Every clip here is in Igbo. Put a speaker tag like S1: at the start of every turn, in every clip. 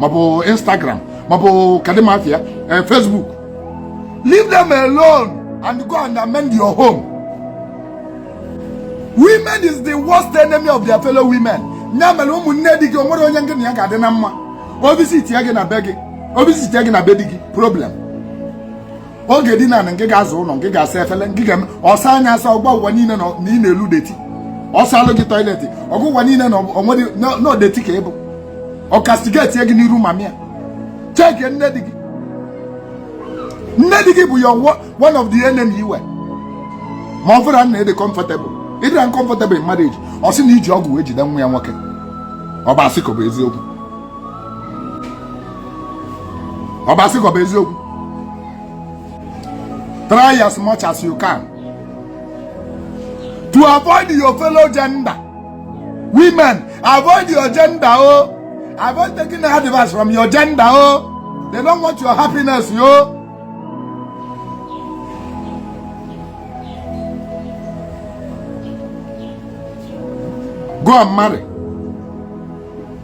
S1: maọbụ instagram maọbụ kedụ ma afa ya eh, facebook leave them alone and go and amend your home women is the worst enemy of their fellow women ya mere ụmụnne di gị o nwere onye gị na ya ga-adị na mma ọ visitịa gị na be gị ọ visitịa gị na be di gị problem ọ ga-edina ngị ga-aza ụlọ ngị ga-asa efele ngị ga-eme ọ saa nya asa ọ gwa ụwa niile na ị na-elu dirty ọ saalụ gị toilet ọ gwa ụwa niile na onye dirty ka ị bụ ọ castigate gị n'iru mama ya check nne di gị nne di gị bụ ya one of the enemy i nwe ma ọ bụrụ na ị dị comfortable ị dị uncomfortable in marriage ọ sị na i ji ọgwụ wee jide nwa ya nwoke ọ bụ asị ka ọ bụ eziokwu ọbasị ka ọ bụ eziokwu try as much as you can to avoid your fellow gender women avoid your gender o oh. avoid taking advice from your gender o oh. they don't want your happiness yo. Oh. go and marry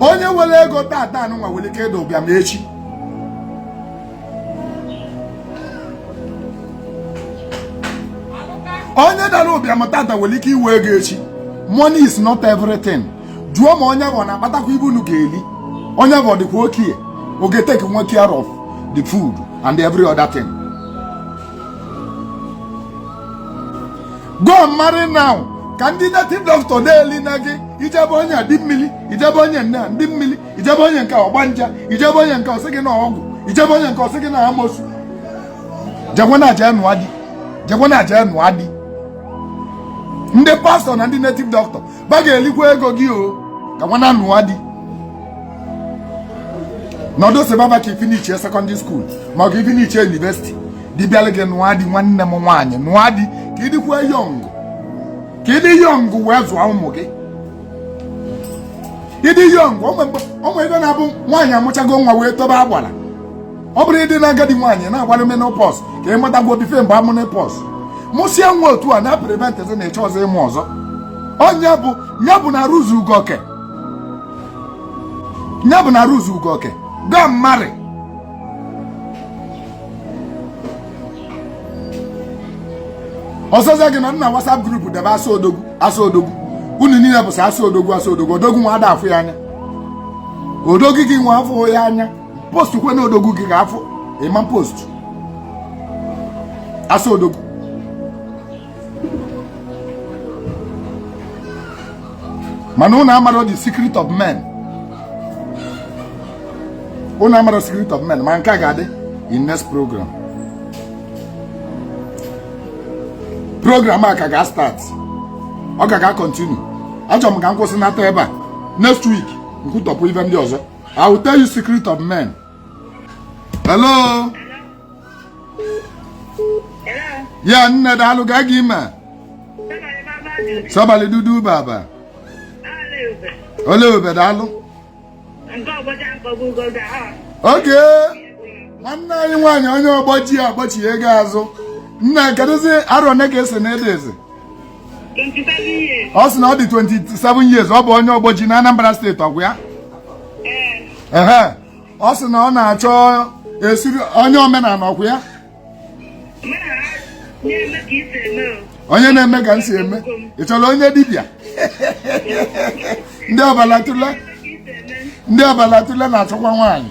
S1: onye nwere ego tata anụnwa nwere ike ịda ụbịam echi onye dara ụbịam tata nwere ike inwe ego echi money is not everything jụọ ma onye ahụ na-akpatakwa ive unu ga-eli onye ahụ ọ dịkwa okay ọ ga-etake nwu care of the food and every other thing go and marry now ka ndị native doctor na-eli na gị i jee be onye a ndị mmiri i jee be onye nke a ndị mmiri i jee be onye nke ọgbanje i jee be onye nke ọ sị gị na ọgwụ i jee be onye nke ọ sị gị na amosu jekwanụ je nụa di jekwanụ je nụa di ndị pastor na ndị native doctor va ga-elikwa ego gị o ka nwannaa nụa di nọdụ sị baba ka i finishie secondary school ma ọ ka i finishie university di bịalụ gị nụa di nwanne m nwaanyị nụa di ka ị dịkwa young ka ị dị young wee zụọ ụmụ gị ị dị young o nwe ive na-abụ nwaanyị amụchago nwa wee tobe agbala ọ bụrụ ị dị na agadi nwaanyị na-agbalụ menopause ka ị matagwo before mgbe menopause mụsịa nwa otu a na-apreventzi na-eche ọzọ ịmụ ọzọ onye bụ ya bụ na ruzu ugoke ya bụ na ruzu ugoke gaa marry ọsọsọ gị anọna WhatsApp group debe asa odogwu asa odogwu unu niile bụsị asa odogwu asa odogwu odogwu nwa ada afụ ya anya odogwu gị nwa afụ ya anya post kwenụ odogwu gị ka a fụ ị ma post asa odogwu mana unu amarọ the secret of men unu amarọ secret of men ma nke a ga-adị in next program program a ka ga-start ọ ka ga-continue achọrọ m ka m kwụsị nata ebe a next week m kwutọpụ ive ndị ọzọ I will tell you secret of men. Hello? Hello? Yeah, nne daalụ gaa gị ime. Sabali dudu baba. Ole ebe daalụ. Okay nwanne anyị nwaanyị onye Ogboji agbachi ego azụ. Nne kedụzi arọ one ka ị sị na ị dịzi. ọ sị na ọ dị 27 years ọ bụ onye Ogboji na Anambra steeti ọ kwa ya ehe ọ sị na ọ na-achọ esiri onye omenala ọ kwa ya onye na-eme ka m si eme ị chọrọ onye dibịa ndị ọbalatụle ndị ọbalatụle na-achọkwa nwaanyị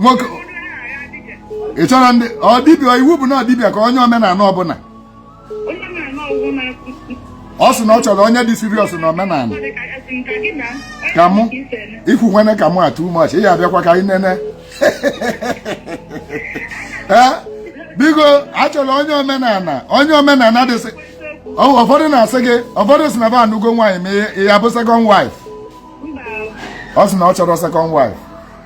S1: nwoke ị chọrọ ndị ọ dibịa iwu bụ na dibịa ka onye omenala ọbụla ọ sị na ọ chọrọ onye dị serious na omenala ka mụ ikwu nwene ka mụ atụ umeọchị ị ya abịakwa ka anyị nene ee biko achọrọ onye omenala onye omenala dịsị ụfọdụ na-asị gị ụfọdụ si na ba anụgo nwaanyị ma ya bụ second wife ọ sị na ọ chọrọ second wife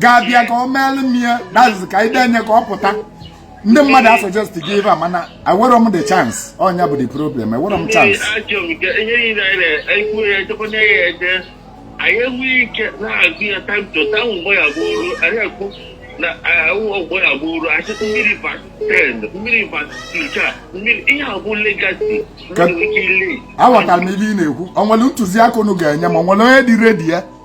S1: ga-abịa ka ọ meelụ m ya dazizi ka ide enye ka ọ pụta ndị mmadụ a suggest gị ebe a mana enwerọ m the chance ọ nya bụ the problem enwerọ m chance anyị enweghị ike na-agụ ya time to time mgbe ya bụ ọrụ anyị ekwu na ọgbọ ya bụ ọrụ achị mmiri vas 10 million vas 2 million ihe a bụ legacy aghọtara m ihe ị na-ekwu ọ nwere ntụziaka unu ga-enye m ọ nwere onye dị ready ya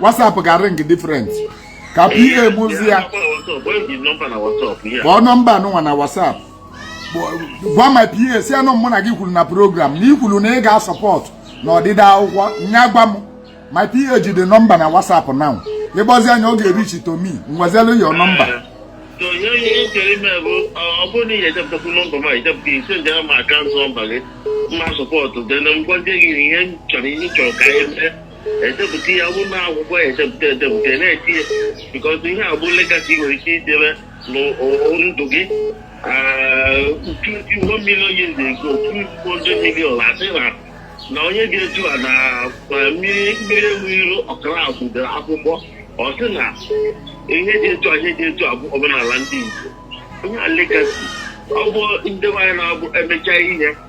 S1: WhatsApp ga ring different ka PA mụ zi ya kpọọ nọmba anụnwa na WhatsApp gwa my PA sị na mụ na gị kwuru na program na ị kwuru na ị ga-asupport na odide akwụkwọ nya gwa m my PA ji the number na WhatsApp now ịgbazi anya ọ ga-ereach to me ngwazelu your number so ihe ihe m chere ime bụ ọ bụrụ na ị ga-echepụtakwu nọmba m echepụta ị sendere m account number gị m asupport dena ngwa ndị gị ihe m chọrọ ihe chọrọ ka anyị mee edepụta ya bụ na akwụkwọ edepụta edepụta na-eti ya because ihe a bụ legacy nwere ike idebe ndụ gị tuti one million years ago two hundred million a sị na na onye ga-eju a na mmiri mmiri ewu iru ọkara akwụdere akwụkwọ ọ sị na ihe dị etu a ihe dị etu a bụ omenala ndị Igbo ihe a legacy ọ bụ ndị nwaanyị na-abụ emechaa ihe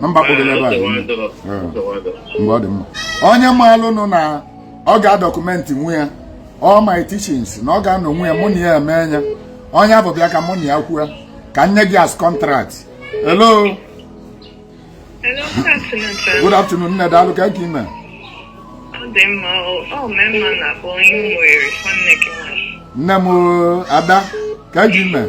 S1: na mba kpogoro ebe a mgbe ọ dị mma onye maalụ nụ na ọ ga-adọkụmentị nwe ya all my teachings na ọ ga-anọ nwe ya mụ na ya eme anya onye afụ bịa ka mụ na ya kwue ka m nye gị as contract hello good afternoon nne daalụ kee ka ị mee nne m ada kee ka ị mee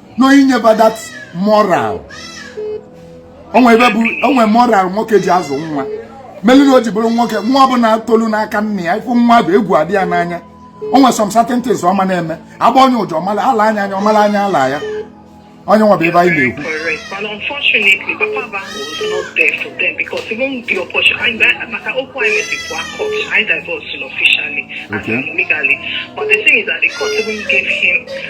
S1: no inyeba that moral o nwe ife bụ o nwe moral nwoke ji azụ nwa melu na o ji bụrụ nwoke nwa ọbụla tolu n'aka nna ya ị fụ nwa afụ egwu adị ya n'anya o nwe some certain things ọ ma na-eme agba onye ụjọ ọmala ala anya anya ọmala anya ala ya onye nwa bụ ebe anyị na-ekwu correct. But unfortunately, Papa Bango was not there for them because even the opportunity, I, maka okwu anyị mesi pụọ court, I divorced him officially and Okay. legally. But the thing is that the court even gave him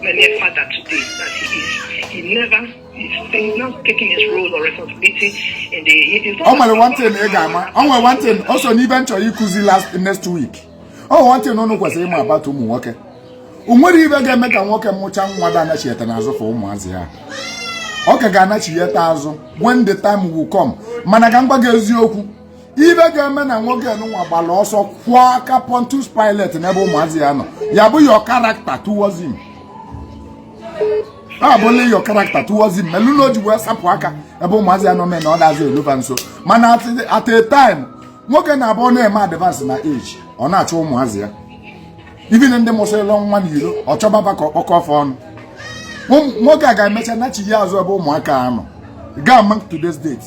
S1: Many father today that he is, he never is not taking his role or responsibility in the. It is not. O nwere one thing ị ga-ama. O nwere one thing, o so n'ife m chọ ikuzi last next week. O nwere one thing unu kwesịrị ịma about ụmụ nwoke. O nwere ife ga-eme ka nwoke mụcha nwa da anachieta n'azụ fụ ụmụazị ya ọ ka ga-anachieta azụ when the time will come mana ka m gwa gị eziokwu ife ga-eme na nwoke nwa gbara ọsọ kwọọ aka Pontius Pilate n'ebe ụmụazị ya nọ ya bụ your character towards him ọ bụ na your character towards him melu na o ji wee sapụ aka ebe ụmụazị ya nọ mee na ọ dazi eluba nso mana at a time nwoke na-abụ ọ na-eme advance na age ọ na-achọ ụmụazị ya even ndị mụsịrịla nwa na iro ọ chọba fa ka ọ kpọkọọ fa ọnụ nwoke a ga-emecha nachie azụ ebe ụmụaka anọ gaa mark today's date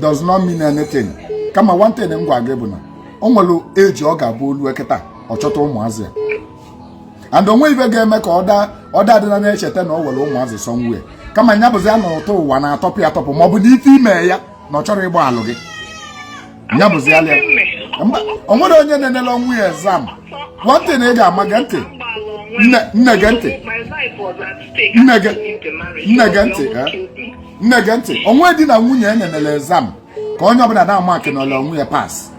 S1: does not mean anything kama one thing m gwa gị bụ na o nwere age ọ ga-abụ o lue kịta ọ chọta ụmụazị ya and o nwe ife ga-eme ka ọ daa ọ daa adị na-echeta na o nwere ụmụazị somewhere kama nya bụzi ya na ụtọ ụwa na-atọpụ ya atọpụ ma ọ bụ na ife ime ya na ọ chọrọ ịgbalụ gị ya bụzi ya lịa o nwere onye na-enele onwe ya exam one thing ị ga-ama gee ntị nne gee ntị nne gee ntị nne gee ntị o nwe di na nwunye enenele exam ka onye ọbụla na-amaakịnara onwe ya pass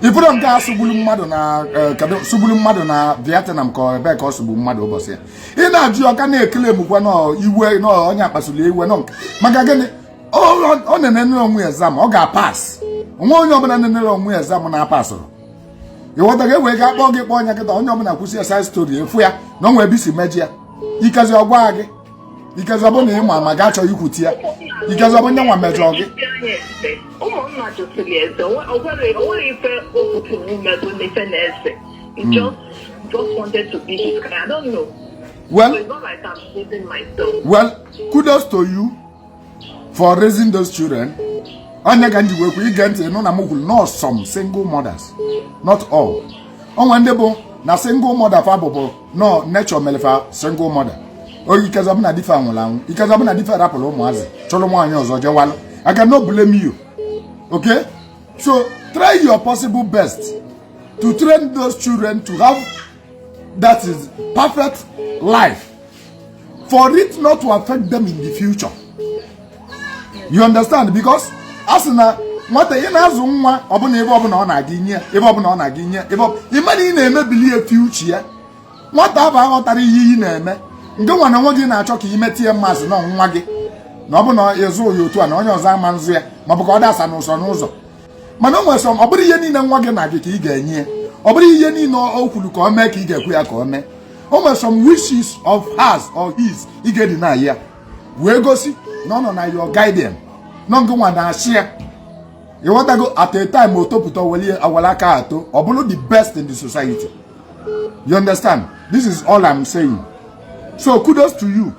S1: ị fụrụ nke a sụgburu mmadụ na e, sụgburu mmadụ na Vietnam ka ebee ka ọ sụgbu mmadụ ụbọchị ya ị na-ajụ ọ ka na-ekele mụkwa n'iwe na onye a kpasuru iwe nọ maka gịnị ọ na-enenere onwe ya exam ọ ga-apass onwe onye ọbụla na-enere onwe ya exam na-apasụrụ ị ghọtago e wee gaa kpọọ gị kpọọ onye kịta onye ọbụla kwusịa side story a fụ ya na o nwe ebe i si mejọ ya ikezi ọ gwa gị ikezi ọ bụ na ị ma ma gaa chọrọ ikwuti ya ikezi ọ bụ nya nwa mejọ gị well kudos to you for raising those children ọ ya ka m ji wee kwuo ị gee ntị nụ na m kwuru not some single mothers not all o nwe ndị bụ na single mother fa bụ bụ na ọ nature mere fa single mother oyi in case ọ bụ na di fa nwụrụ anwụ in case ọ bụ na di fa rapụrụ ụmụazị chụrụ nwaanyị ọzọ jewalụ I cannot blame you okay so try your possible best to train those children to have that is perfect life for it not to affect them in the future you understand because a sị na nwata ị na-azụ nwa ọbụla ife ọbụla ọ na gị i nye ife ọbụla ọ na gị i nye ya ị ma na ị na-emebili ya future nwata ahụ aghọtarọ ihe ị na-eme ngị nwa na nwa gị na-achọ ka i mete ya mmasị na nwa gị na ọ bụ na ị zụrọ ya otu a na onye ọzọ ama nzụ ya maọbụ ka ọ dasa n'ụzọ n'ụzọ mana o nwere some ọ bụrọ ihe niile nwa gị na gị ka ị ga-enye ya ọ bụrọ ihe niile o kwuru ka ọ mee ka ị ga-ekwe ya ka ọ mee o nwere some wishes of hers or his ị ga-edeny ya wee gosi na ọ nọ na your guardian na ọ ngị nwa na-achị ya ị ghọtago at a time o topụta were awara aka ato ọ bụrụ the best in the society you understand this is all i'm saying so kudos to you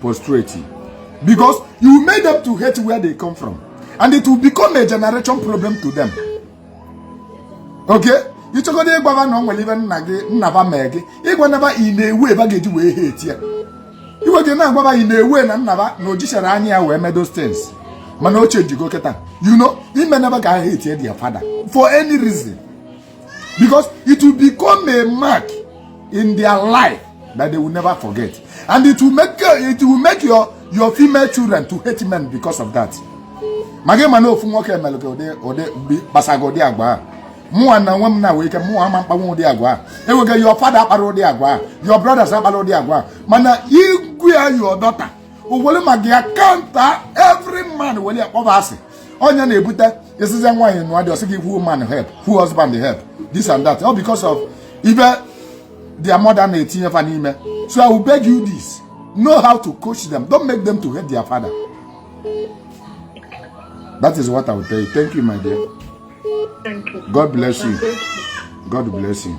S1: prostrate because you made them to hate where they come from and it will become a generation problem to them okay ị chọgodu ịgwa fa na o nwere ife nna gị nna fa mere gị ị gwana fa in a way fa ga-eji wee hate ya iwe gị na-agwa fa in a way na nna fa na o jicharọ anya ya wee mee those things mana o chenjigo kịta you know emena fa ga hate ya their father for any reason because it will become a mark in their life that they will never forget and it will make it will make your your female children to hate men because of that ma gị ma na ofu nwoke mere gị ụdị ụdị kpasa gị ụdị agwa a mụnwa na onwe m nwere ike mụnwa ama m akpanwu ụdị agwa a o nwe ike your father akparọ ụdị agwa a your brothers akparọ ụdị agwa a mana ị gwa your daughter o were maka ya kanta every man were ya kpọba asị ọ ya na-ebute a sịzie nwaanyị nụọ di ọ sị gị who man help who husband help this and that all because of ife their mother na-etinye fa n'ime so I will beg you this know how to coach them don't make them to hate their father that is what I will tell you thank you my dear thank you. God bless you God bless you.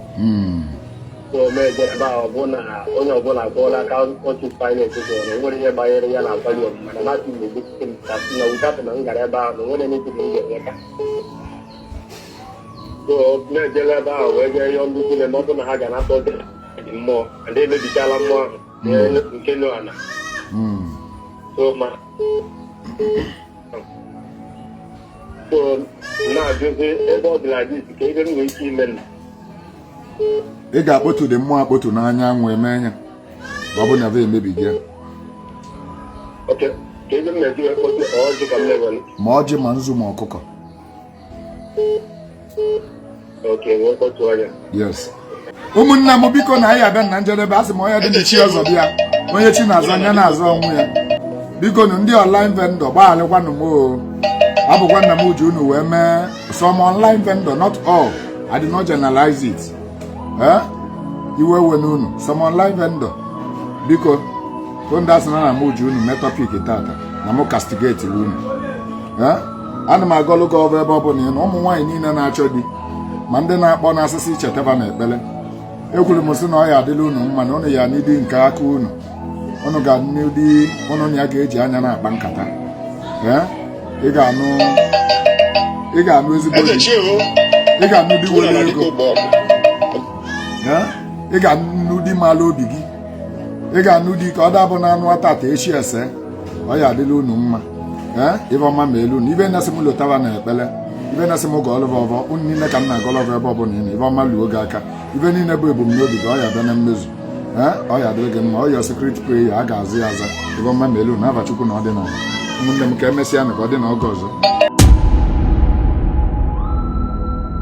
S1: na-eme ebe a ọ bụ na onye ọbụla gụọla aka otu pilot gụrụ na enwere ihe gbanyere ya na akwanye ọmụma na mati na-egosi m ka na ụdapụ na m gara ebe ahụ na onwere n'ebi na m ga-enye ka so na-ejela ebe ahụ wee jee yọọ ndị niile ma ọ bụ na ha ga na-atọ ndị mmụọ ndị emebichala mmụọ ahụ nke nọ ala so ma ị ga-akpọtu ndị mmụọ akpọtu n'anyanwụ eme anya ma ọ bụ na emebighị ya ma ọjị ma nzu ma ọkụkọ yes ụmụnne m biko na anyị abịa na njedebe asị m onye dị n'echi ọzọ bịa onye chi na-azọ nya na-azọ onwe ya biko nụ ndị online vendor gbaghalịkwanụ m o ọ bụkwa na m eji unu wee mee some online vendor not all I did not generalize it eh? iwe ewena unu some online vendor biko ndị asị na na m eji unu mee topic tata na m castigate unu ana m agọlụ gị ọvọ ebe ọ bụla ị nọ ụmụ nwaanyị niile na-achọ di ma ndị na-akpọ na-asị sị chetaba n'ekpere ekwuru m sị na ọ ya-adịlị unu mma na unu ya-anụ di nke aka unu unu ga-anụ di unu na ya ga-eji anya na-akpa nkata ị ga-anụ ị ga-anụ ezigbo ị ga-anụ di nwere ego ị ga-anụ di mala obi gị ị ga-anụ di ka ọ dabụ na anụa tata echi ese ọ ya-adịlị unu mma ee ive ọma meelụ unu ibe na-asị m lotaba na ekpere ibe na-asị m gọọlụ gị ọvọ unu niile ka m na-agọlụ gị ebe ọ bụla ị nọ ive ọma luo gị aka ive niile bụ ebumnobi gị ọ ya-abịa na mmezu ee ọ ya-adịrị gị mma all your secret prayer a ga-aza ya aza ive ọma meelụ unu na afa Chukwu na ọdịnala ụmụnne m ka emesịa nụ ka ọ dị na oge ọzọ